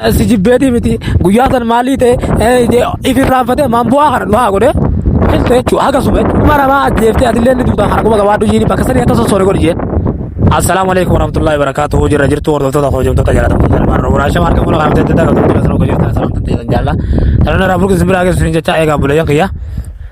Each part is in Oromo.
Si jibbeetii miti guyyaa san maalii ta'e ifirraanfatee maan bu'aa kana du'aa godhe filta jechuudha haga suma dhuma namaa ajjeeftee atillee ni duutaa kana quba gabaadhu jiini bakka sanii akka sossoore godhi jeen. Assalaamu alaikum warahmatullahi wabarakatuhu jirra jirtu hordoftoota koo hojjamtoota jaalatamuu salmaan roobu raashama harka fuula kaamtee daddaa qabdu jira sana hojjamtoota salaamtan ta'e san jaallaa. Sanana raafuu keessan biraa keessan jecha eegaa buleeyyan kiyyaa.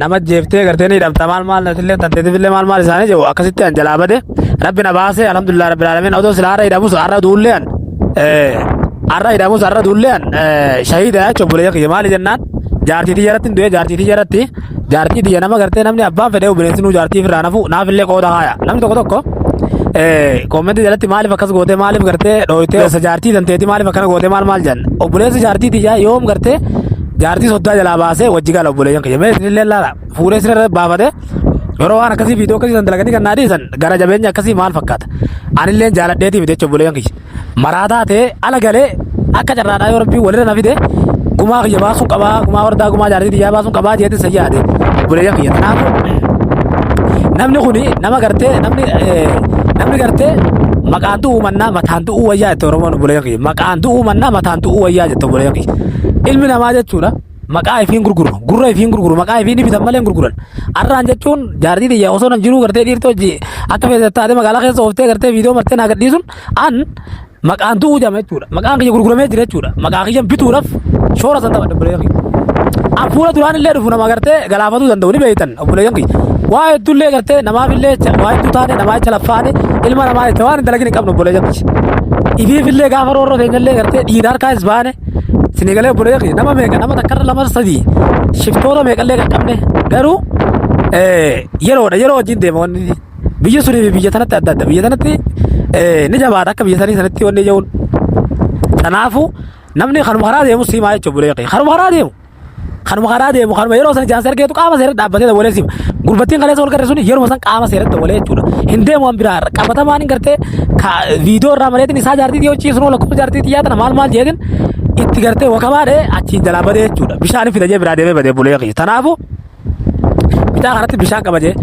nama jeeftee gartee ni dhabda maal maal natillee tanteetifillee maal maal isaanii jedhu akkasitti an jalaa bade rabbi na baasee alhamdulillah rabbil alamin odoo sila har'a hidhamus har'a duullee an har'a hidhamus har'a duullee an shahiida jechuun bulee kiyya maali jennaan jaartii tiyya irratti hin du'e jaartii tiyya irratti jaartii tiyya nama gartee namni abbaan fedhee bineensi nuu jaartii firraa nafu naafillee qooda haaya namni tokko tokko koomenti jalatti maaliif akkas gootee maaliif gartee dhooytee jaartii tanteeti maaliif akkana gootee maal maal jenna obboleessi jaartii tiyya yoom gartee jaartii soddaa jalaa baasee wajji gala obboleeyyan kiyya mee isinillee laala fuudhee sirra baafate yeroo waan akkasii viidiyoo akkasii san dalaganii kan naa dhiisan gara jabeenya akkasii maal fakkaata anillee jaaladheetii miti jechuun obboleeyyan kiyya maraataa ta'ee ala galee akka carraadhaa yoo rabbii walirra na fide gumaa kiyya baasuun qabaa gumaa wardaa gumaa jaartii biyyaa baasuun qabaa jeetiin san yaade obboleeyyan kiyya kanaafuu namni kuni nama gartee namni eh, namni gartee maqaan du'uu mannaa mataan du'uu wayyaa jette oromoon obboleeyyan kiyya maqaan du'uu mannaa mataan du'uu wayyaa jette obboleeyyan kiyya Ilmi namaa jechuudha maqaa ifiin gurguru gurra ifiin gurguru maqaa ifiin bitan malee hin gurguran arraan jechuun jaartii tiyya osoo nan jiruu gartee dhiirtoo hojii akka feesee taate magaalaa keessa ooftee gartee viidiyoo martee naa gadhiisun an maqaan tu'uu jama jechuudha maqaan kiyya gurguramee jira jechuudha maqaa kiyyan bituudhaaf shoora san taphadha bulee kiyya an fuula duraan illee dhufu nama gartee galaafatuu danda'u ni beektan obboleeyyan kiyya waa hedduu illee gartee namaaf illee waa hedduu taane namaa jecha laffaane ilma namaa jecha waan hin dalagin hin qabnu obboleeyyan kiyya ifiif illee gaafa roorroo teenya illee gartee dhiira harkaa is baane Isinii galee obboleeyya kiyya nama meeqa nama takkarra lama sadii shiftoota meeqallee qaqqabne garuu eh, yeroodha yeroo wajjin deema wanni inni. biyya sunii fi biyya tanatti adda adda biyya tanatti eh, ni jabaata akka biyya sanii sanatti wanni ija'uun kanaafuu namni kanuma karaa deemu siimaa jechuudha obboleeyya kiyya kanuma karaa deemu. Kanuma karaa deemu kanuma yeroo sana jaan sargeetu qaama seeratti dhaabbatee dawalee siif. Gurbattiin kaleessa wal garre sun yeruma san qaama seeratti dawalee jechuudha. Hin deemu waan biraa irra qabatamaan hin gartee viidiyoo irraa mareetiin isaa jaartii dhiyoo ciisu noo lakkoofsa jaartii xiyyaa tana maal maal jeetin itti gartee wakabaadhee achiin jalaa badee jechuudha. Bishaan fida jee biraa deemee badee bulee kiyya. Tanaafuu bitaa kanatti bishaan qaba jee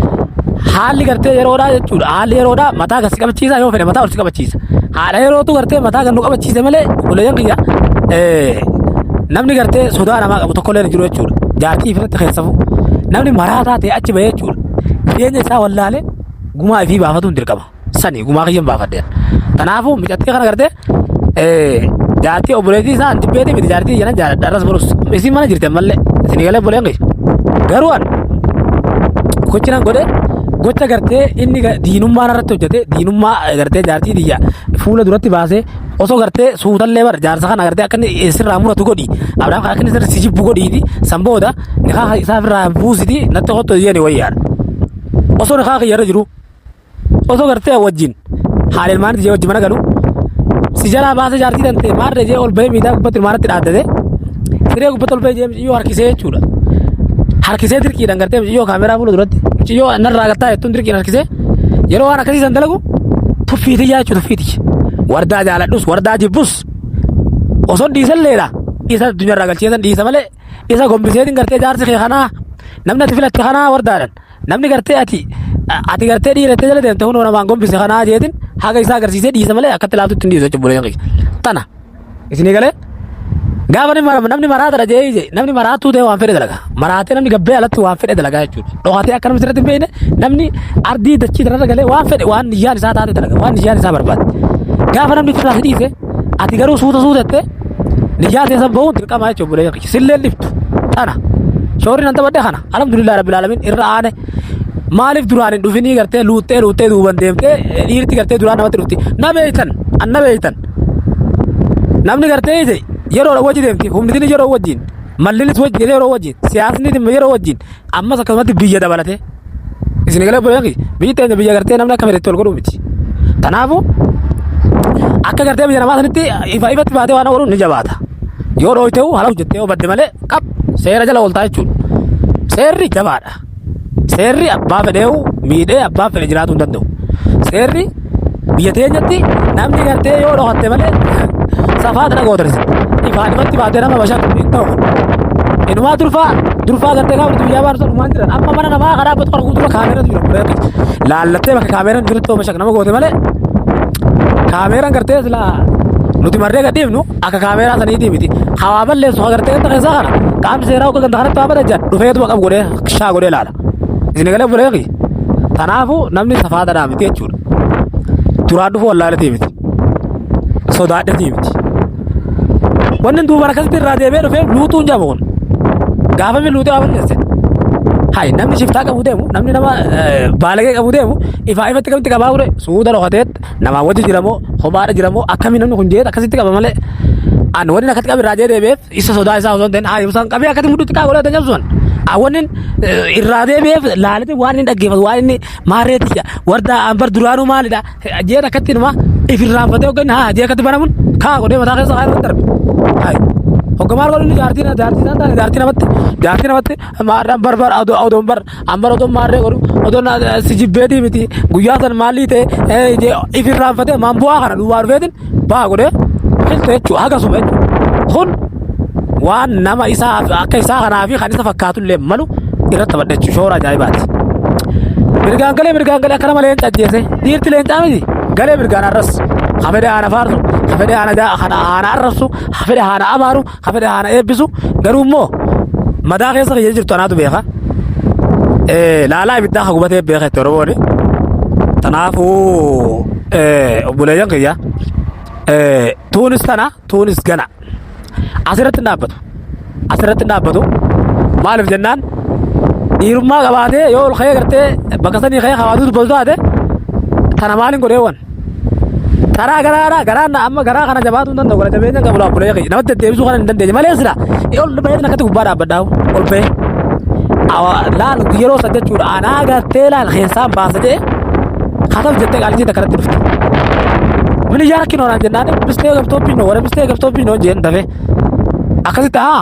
haalli gartee yeroodhaa jechuudha haalli yeroodhaa mataa kan si qabachiisa yoo fedhe mataa ol si qabachiisa haadha yerootu gartee mataa kan nu qabachiise malee obboleeyyan kiyya eh, namni gartee sodaa namaa qabu tokkollee hin jiru jechuudha jaartii ifirratti keessafu namni maraataa ta'e achi bahee jechuudha jireenya isaa wallaalee gumaa ifii baafatuun dirqama sani gumaa kiyyan baafadheera. Kanaafuu micattii kana gartee jaartii obboleettii isaa dibbeetii miti jaartii janan jaaladha irras barus isin mana jirti ammallee isin galee obboleen kiyya. Garuu an gochi nan godhe gocha gartee inni ga- diinummaa narratti hojjete diinummaa eh, gartee jaartii tiyya fuula duratti baasee osoo gartee suutallee bara jaarsa kana gartee akka inni sirraa muratu godhi abdaan kana akka inni sirri si jibbu godhiiti san booda nikaa isaa ofirraa buusiti natti kottu jedhee wayyaadha. osoo nikaa kiyya irra jiru Osoo gartee wajjin haadha ilmaanitti jee wajji mana galu si jalaa baasee jaartii tantee maarree jee ol bahee miidhaa gubbatti ilmaanatti dhaaddate siree gubbatti ol bahee jee miciyyoo harkisee jechuudha. Harkisee dirqiidhaan gartee miciyyoo kaameraa fuula duratti miciyyoo narraa gattaa jettuun dirqiin harkisee yeroo waan akkasii san dalagu tuffiitii jaa jechuudha tuffiitii. Wardaa jaaladhus wardaa jibbus osoo dhiisalleedha isa addunyaa irraa galchee san dhiisa malee isa gombiseetiin gartee jaarsi kee kanaa namni ati filatte kanaa wardaadhan. Namni gartee ati ati gartee dhiira itti jala deemte kunoo namaan gombise kanaa jeetin haga isaa agarsiisee dhiisa malee akkatti ilaaltutti hin dhiisu jechuudha buleen kiyya. Tana isinii galee gaafa ni mara- namni maraatadha jee ije namni maraatuu ta'e waan fedhe dalaga maraatee namni gabbee alatti waan fedhe dalagaa jechuudha. Dhokatee akka namni sirratti hin beekne namni ardii dachii irra galee waan fedhe waan niyyaan isaa taate dalaga waan niyyaan isaa barbaade. Gaafa namni itti laafee dhiise Ati garuu suuta suuta jettee niyyaa teessan bahuun dirqama jechuudha obboleeyyan kiyya. Sillee dhiftu tana. Shoorri nan taphadhe kana. Alhamdulillah rabbil alamin irra aane. Maaliif duraan hin dhufinii gartee luuxxee luuxxee duuban deemtee eh, dhiirti gartee duraan namatti dhufti. Na beeytan an na beeytan. Namni gartee ije yeroo wajji deemti humnitiin yeroo wajjin mallinis wajji yeroo wajjin siyaasni yeroo wajjin Ammas akkasumatti biyya dabalatee isin galee buleefi biyyi teenya biyya gartee namni akka fedhetti ol godhuu miti. Kanaafuu akka gartee biyya namaa sanitti ifa ifatti baatee waan ooluun ni jabaata. Yoo dhooyte haala hojjettee yoo badde malee qab seera jala ooltaa jechuudha. Seerri jabaadha. Seerri abbaa fedheewu miidhee abbaa fedhe jiraatuu hin danda'u. Seerri Biyya teenyatti namni gartee yoo dhokatte malee safaa tana gootan isin. Ifaan ifatti baatee nama bashan hin ta'u. Inumaa durfaa durfaa gartee gaafa nuti biyyaa baanu sana dhumaan jiran amma mana namaa karaa batu arguu dura kaameeratu jira guree akkiti. Laallattee bakka kaameeraan jirutti yoo bashan nama goote malee kaameeraan gartee silaa nuti marree gad dhiifnu akka kaameeraa saniitii miti. Hawaa balleessu hagartee ganda keessaa kana qaamni seeraa akka ganda kanatti waa bada jedhan dhufeetuma qabu godhee shaa godhee laala. Inni galee buleefi. Kanaafuu namni safaadadhaa miti jechuudha. Duraan dhufuu wallaalatii miti. Sodaadhatii miti. Wanni duuba akkasitti irraa deebi'ee dhufee luutuun jedhamu kun. Gaafa inni luuxee waa balleesse. Hayi namni shiftaa qabu deemu namni nama eh, baalagee qabu deemu ifaa ifatti akkamitti qabaa ture suuta dhokateet namaa wajji jiramoo kophaadha jiramoo akkamii namni kun jeet akkasitti qaba malee. An wanni akkatti qabu irraa deebi'eef Isa sodaa isaa osoo hin ta'in haa ibsan qabee akkati mudhitti kaa godhee tanyam sun. Awwannin irraa deebi'eef laalite waan inni dhaggeeffatu waan inni maarreetti jedha. Warda anbar duraanuu maalidha jeen akkatti numa if irraanfatee hogganni haa jee akkatti banamun kaa godhee mataa keessa haa irratti darbe. Hayi. Hoggamaan godhu inni jaartii jaartii isaa taane jaartii namatti jaartii namatti maadhaan barbar odoon bar Amma odoo maarree godhu odoo si jibbeetii miti guyyaa san maalii ta'e ifirraan fatee maan bu'aa kana duwwaa dhufeetiin baha godhee dhufeessa jechuudha hagasuma jechuudha. Kun waan nama isaa akka isaa kanaa fi kan isa fakkaatu illee malu irratti taphadha jechuudha shoora ajaa'ibaati. Mirgaan galee mirgaan galee akka nama leenca ajjeese dhiirti leencaa miti galee mirgaan arras hafedee haana faarsu hafedee haana haana arrabsu hafedee haana abaaru Ka fedhe haana eebbisu garuu immoo madaa keessa kiyya jirtu anaatu beeka. Eh, Laalaa ibiddaa ka gubatee beeka itti Oromooni. Kanaafuu eh, obboleeyyan kiyya eh, tuunis tana tuunis gana asirratti hin dhaabbatu. Asirratti hin dhaabbatu. Maaliif jennaan dhiirummaa qabaatee yoo ol ka'ee gartee bakka sanii ka'ee hawaasni dubbatu taate tana maaliin godhee wan karaa garaa garaa garaan na amma garaa kana jabaatuu hin danda'u gara jabeenya hin qabu laa bulee kiyya namatti deddeebisuu kana hin dandeenye malee sila ol baheetiin akkatti gubbaa dhaabbadhaa ol bahee Awa- laal yeroo san jechuudha anaa gartee laal keessaan baasa jee kataf jettee qaalisiin akkanatti dhufte mini yaa rakkinoodhaan jennaan bistee gabtooppiin noo wara bistee gabtooppiin noo jeen dafee akkasitti haa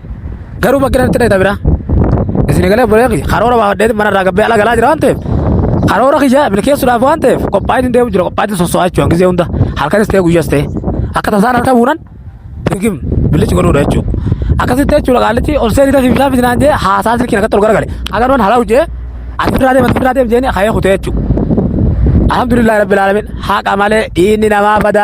Garuu bakki natti dhayita biraa. Isin egalee buleeqi karoora baafadheetiin mana irraa gabbee ala galaa jira waan ta'eef karoora kiyya milkeessuudhaaf waan ta'eef qophaa'in hin deemu jira qophaa'in sosso'aa jechuudha gizee hunda halkanis ta'e guyyas ta'e akka tasaan harka buunan dirgim billichi godhuudha jechuudha. Akkasitti jechuudha qaallichi ol seenii tafi bishaan fidinaan jee haasaa silkiin akkatti ol garagale agaruun halaa hojjee ati firaa deema ati firaa deema jeeni kayee kutee jechuudha. Alhamdulillah rabbil alamin haqa malee dhiinni namaa badaa.